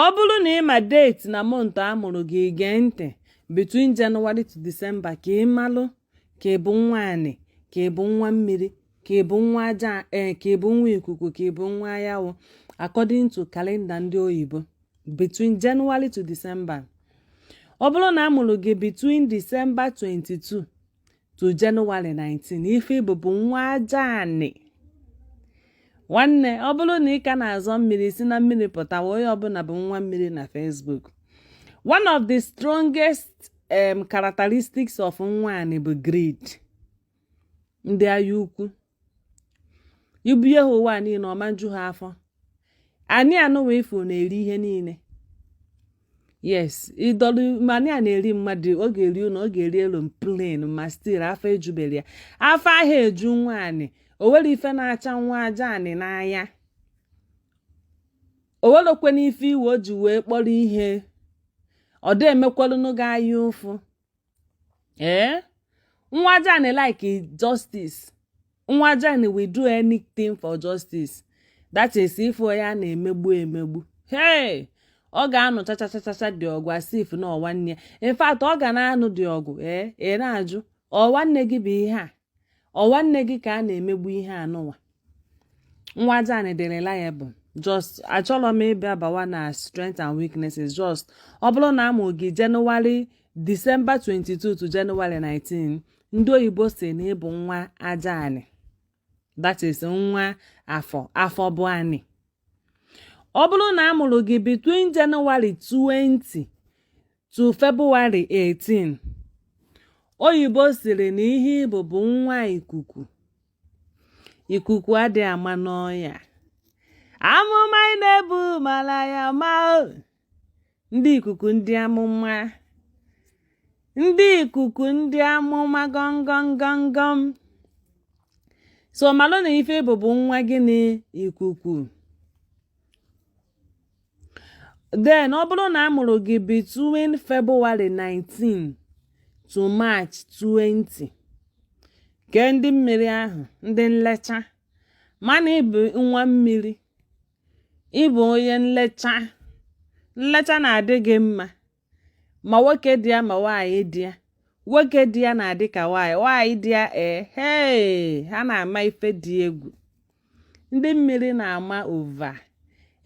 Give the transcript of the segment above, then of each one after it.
ọ bụrụ na ị ma date na month a mụrụ gị gee ntị between January to December ka ị malụ ka ị bụ nwa anị ka ị bụ nwa mmiri ka ị bụ nwa aja ee eh, ka ị bụ nwa ikuku ka ị bụ nwa anyanwụ according to calendar ndị oyibo between January to December ọ bụrụ na a mụrụ gị between December 22 to January 19 ife ị bụ bụ nwa aja anị nwanne ọ bụrụ na ị ka na-azọ mmiri si na mmiri pụtawa onye ọbụla bụ nwa mmiri na Facebook one of the strongest um, characteristics of nwa anị bụ greed ndị anya ukwu i bunye ha ụwa niile ọ ma-eju ha afọ anị anụwa ị fụ na-eri ihe niile yes ịdọlụ ma anị a na-eri mmadụ ọ ga-eri ụlọ ọ ga-eri aeroplane ma still afọ ejubere ya afọ aha eju nwa anị o nwere ife na-acha nwa aja anị n'anya o nwerekwa n'ife ụwa o ji wee kpọrọ ihe ọ dị emekwalụnụ gị anya ụfụ ee eh? nwa aja anị like justice nwa aja anị will do anything for justice that is if onye a na-emegbu emegbu hey ọ ga-anụ chachachachacha dị ọgụ as if na ọ nwanne ya in fact ọ ga na-anụ dị ọgụ ee eh? ị na-ajụ ọ nwanne gị bụ ihe a ọ nwanne gị ka a na-emegbu ihe anụnwa nwa aja anị dị reliable just achọrọ m ịbịa bawa na strength and weaknesses just ọ bụrụ na a mụ gị January December 22 to January 19 ndị oyibo sị na ị bụ nwa aja anị that is nwa afọ afọ bụ anị ọ bụrụ na a mụrụ gị between January 20 to February 18 oyibo sịrị na ihe ị bụ bụ nwa ikuku ikuku adị ama n'ọnya amụma ị na-ebu mara ya ma ndị ikuku ndị amụma ndị ikuku ndị amụma gọngọngọngọm so malụ na ife ị bụ bụ nwa gịnị ikuku then ọ bụrụ na a mụrụ gị between February 19 to March 20 kee ndị mmiri ahụ ndị nlecha ma na ị bụ nwa mmiri ị bụ onye nlecha nlecha na-adị gị mma ma nwoke dị ya ma nwaanyị dị ya nwoke dị ya na-adị ka nwaanyị nwaanyị dị ya ee hee ha na-ama ife dị egwu ndị mmiri na-ama over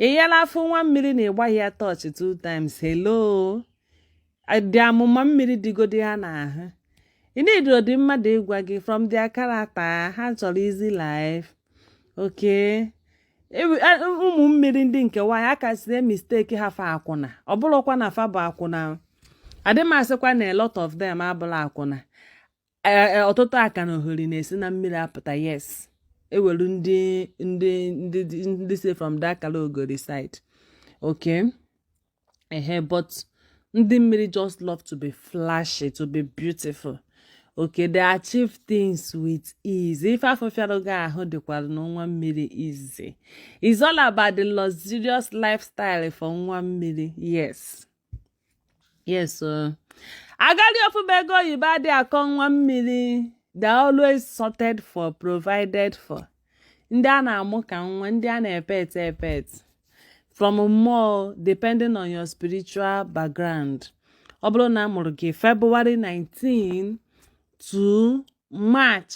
ị yala afụ nwa mmiri na ị gbaghị ya torch two times hello dị amụma mmiri dịgodi ha n'ahụ ị needirodị mmadụ ịgwa gị from their character ha chọrọ easy life okay e, e, ụmụ mmiri ndị nke nwaanyị a kasị emistake ha for akwụna ọ bụrọkwa na fa bụ akwụna adị m asịkwa na a lot of them abụla akwụna e, e, ọtụtụ aka na ohori na-esi na mmiri apụta yes e nwelu ndị ndị ndị ndị si from that akalaogori side okay ehe but ndị mmiri just love to be flashy to be beautiful okay they achieve things with ease ife afụ fịara gị ahụ dịkwaranụ nwa mmiri easy it's all about the luxurious lifestyle for nwa mmiri yes yes agadi ọfụma ego oyibo adị akọ nwa mmiri they are always sorted for provided for ndị a na-amụ ka nwa ndị a na-epet epet from mmụọ depending on your spiritual background ọ bụrụ na a mụrụ gị February 19 to March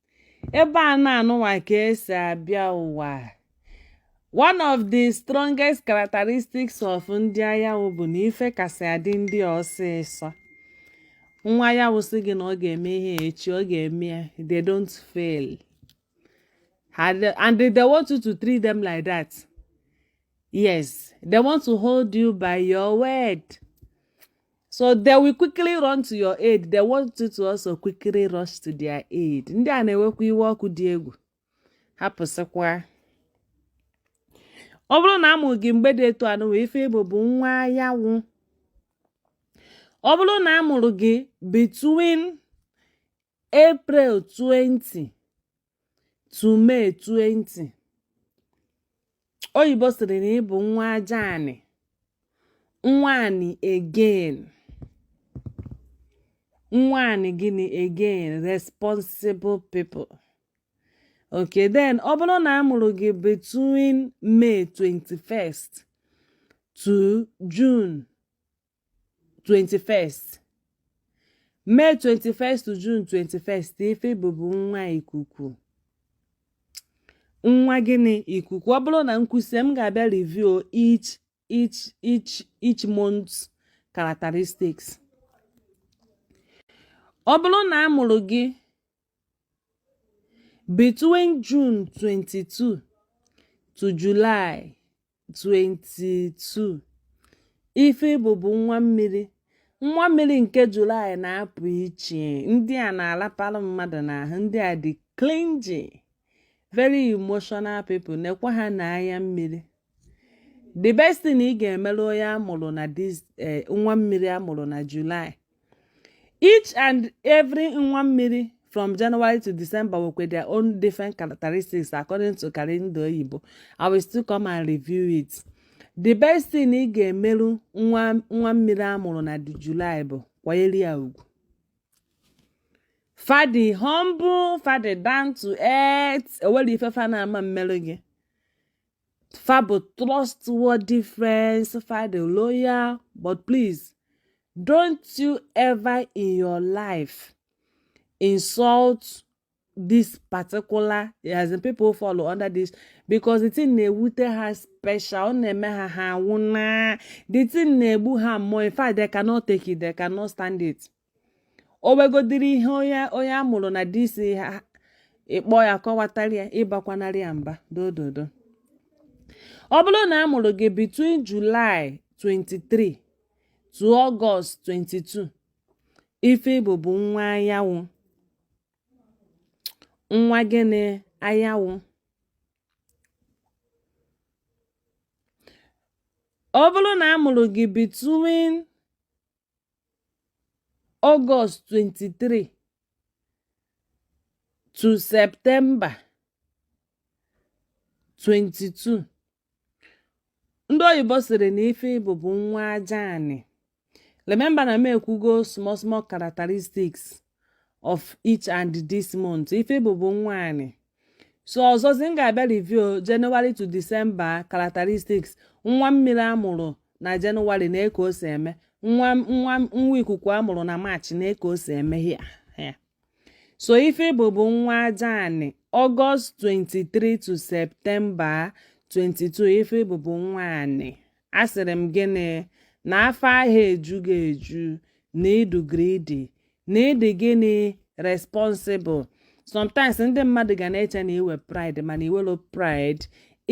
ebe anọ anụwa ka e si abịa ụwa one of the strongest characteristics of ndị anyanwụ bụ na ife kasị adị ndị ọsịsọ nwa anyanwụ sị gị na ọ ga-eme ihe echi ọ ga-eme ya they don't fail and they want you to treat them like that yes they want to hold you by your word so they will quickly run to your aid they want you to also quickly rush to their aid ndị a na-ewekwa iwe ọkụ dị egwu hapụsịkwa ọ bụrụ na a mụrụ gị mgbe dị etu anụwa ife ị bụ bụ nwa anyanwụ ọ bụrụ na a mụrụ gị between April 20 to May 20 oyibo sịrị na ị bụ nwa aja anị nwa anị again nwa anị gịnị again responsible people okay then ọ bụrụ na a mụrụ gị between May 21st to June 21st May 21st June 21st ife ị bụ bụ nwa ikuku nwa gịnị ikuku ọ bụrụ na m kwusịa m ga-abịa review each each each each month characteristics ọ bụrụ na a mụrụ gị Between June 22 to July 22, ife ị bụ bụ nwa mmiri. Nwa mmiri nke July na-apụ iche. Ndị a na-alapara mmadụ n'ahụ, ndị a dị clingy, very emotional people, nekwa ha n'anya mmiri. The best thing ị ga-emere onye a mụrụ na this eh, nwa mmiri a mụrụ na July Each and every nwa mmiri from January to December with their own different characteristics according to calendar oyibo. I will still come and review it. The best thing ị ga-emerụ nwa mmiri a mụrụ na July bụ kwanyere ya ugwu. Fa dị humble, fa dị down to earth, ewerọ ife fa na-ama mmerụ gị. fa bụ trustworthy friends fa dị loyal but please don't you ever in your life insult this particular as in people follow under this because the thing na-ewute ha special ọ na-eme ha ha nwụna the thing na-egbu ha mmụọ in fact they cannot take it they cannot stand it o wegodiri ihe onye a mụrụ na this eh ị kpọọ ya kọwatara ya ịbakwanarị ya mba dododo ọ bụrụ na a mụrụ gị between July 23 to August 22 ife ị bụ bụ nwa anyanwụ nwa gịnị anyanwụ ọ bụrụ na a mụrụ gị between August 23 to September 22 ndị oyibo sịrị na ife ị bụ bụ nwa aja anị remember na m ekwugo small small characteristics of each and this month ife ị bụ bụ nwa anị so ọzọzi m ga-abịa review January to December characteristics nwa mmiri a mụrụ na January na eke o si eme nwa ikuku a mụrụ na March na eke o si eme ya so ife ị bụ bụ nwa aja anị August 23 to September 22 ife ị bụ bụ nwa anị Asịrị m gịnị? Na afọ aha eju gị eju, na ị dị greedy, na ị dị gịnị responsible. Sometimes ndị mmadụ ga na-eche na i we pride mana i welọ pride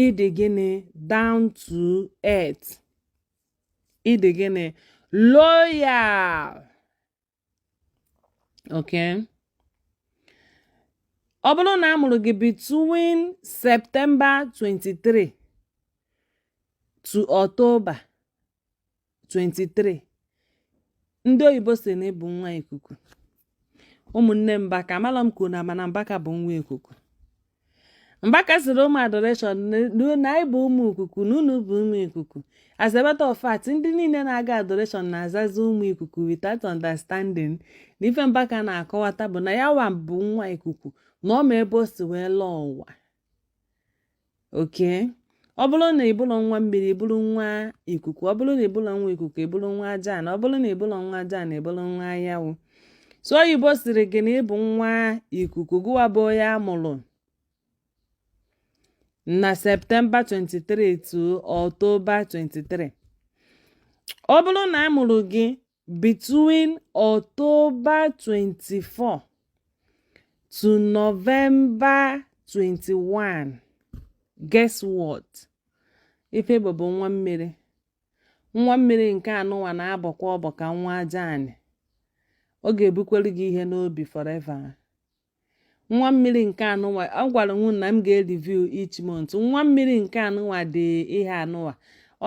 ị dị gịnị down to earth. Ị dị gịnị loyal. okay ọ bụrụ na a mụrụ gị between September 23 to October 23 ndị oyibo sị na ị bụ nwa ikuku ụmụnne Mbaka amala m ka unu ma na Mbaka bụ nwa ikuku Mbaka sịrị ụmụ adoration na anyị bụ ụmụ ikuku na unu bụ ụmụ ikuku as a matter of fact ndị niile na-aga adoration na-azazi ụmụ ikuku without understanding na ife Mbaka na-akọwata bụ na ya wa bụ nwa ikuku na ọ ma ebe o si wee lọọ ụwa okay ọ bụrụ na ị bụrọ nwa mmiri ị bụrụ nwa ikuku ọ bụrụ na ị bụrọ nwa ikuku ị bụrụ nwa aja anị ọ bụrụ na ị bụrọ nwa aja anị ị bụrụ nwa anyanwụ so oyibo sịrị gị na ị bụ nwa ikuku gụwa bụ onye a mụrụ na September 23 to October 23 ọ bụrụ na a mụrụ gị Between October 24 to November 21, guess what? Ife ị bụ bụ nwa mmiri. Nwa mmiri nke anụwa na-abọkwa ọbọ ka nwa aja anị. Ọ ga-ebukwere gị ihe n'obi forever. nwa mmiri nke anụnwa agwara m unu na m ga-review each month nwa mmiri nke anụnwa dị ihe anụnwa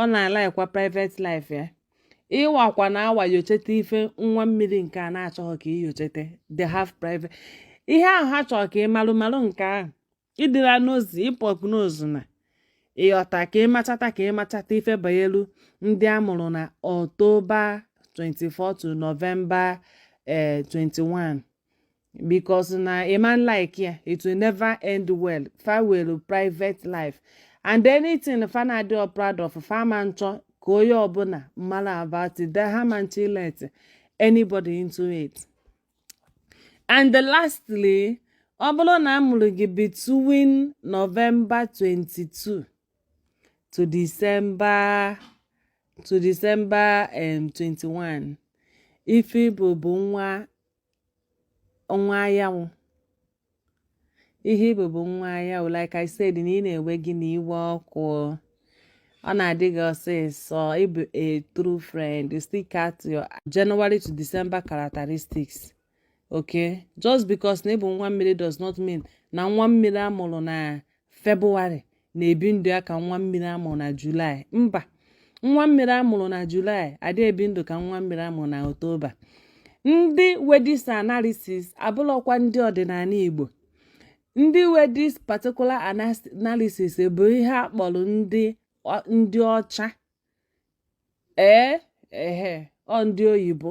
ọ na-alaikwa private life ya ịwakwa na awa nyocheta ife nwa mmiri nke a na-achọghị ka ị nyocheta they have private ihe ahụ ha chọrọ ka ị malụ malụ nke ahụ ị dịra nosy ị pokenose na ịghọta ka ị machata ka ị machata ife banyelu ndị a mụrụ na October 24 to November 21 because na ị ma nlike ya it will never end well fa nwelụ private life and anything fa na-adịrọ proud of fa ma nchọ ka onye ọbụla mara about it ha ma nchọ ilet anybody into it and lastly ọ bụrụ na a mụrụ gị between November 22 to December to December um, 21 ife ị bụ bụ nwa nwa anyanwụ ihe ị bụ bụ nwa anyanwụ like I said na iwe na-ewe gị na iwe ọkụ ọ na-adị gị ọsịsọ ị bụ a true friend you still cut your January to December characteristics okay just because na ị bụ nwa mmiri does not mean na nwa mmiri a mụrụ na febụwarị na-ebi ndụ ya ka nwa mmiri a mụrụ na julaị mba nwa mmiri a mụrụ na julaị adị ebi ndụ ka nwa mmiri a mụrụ na oktoba ndị nwe this analysis abụlọkwa ndị ọdịnala igbo ndị nwe this particular analysis bụ ihe a kpọrọ ndị ndị ọcha ee ehe ọ ndị oyibo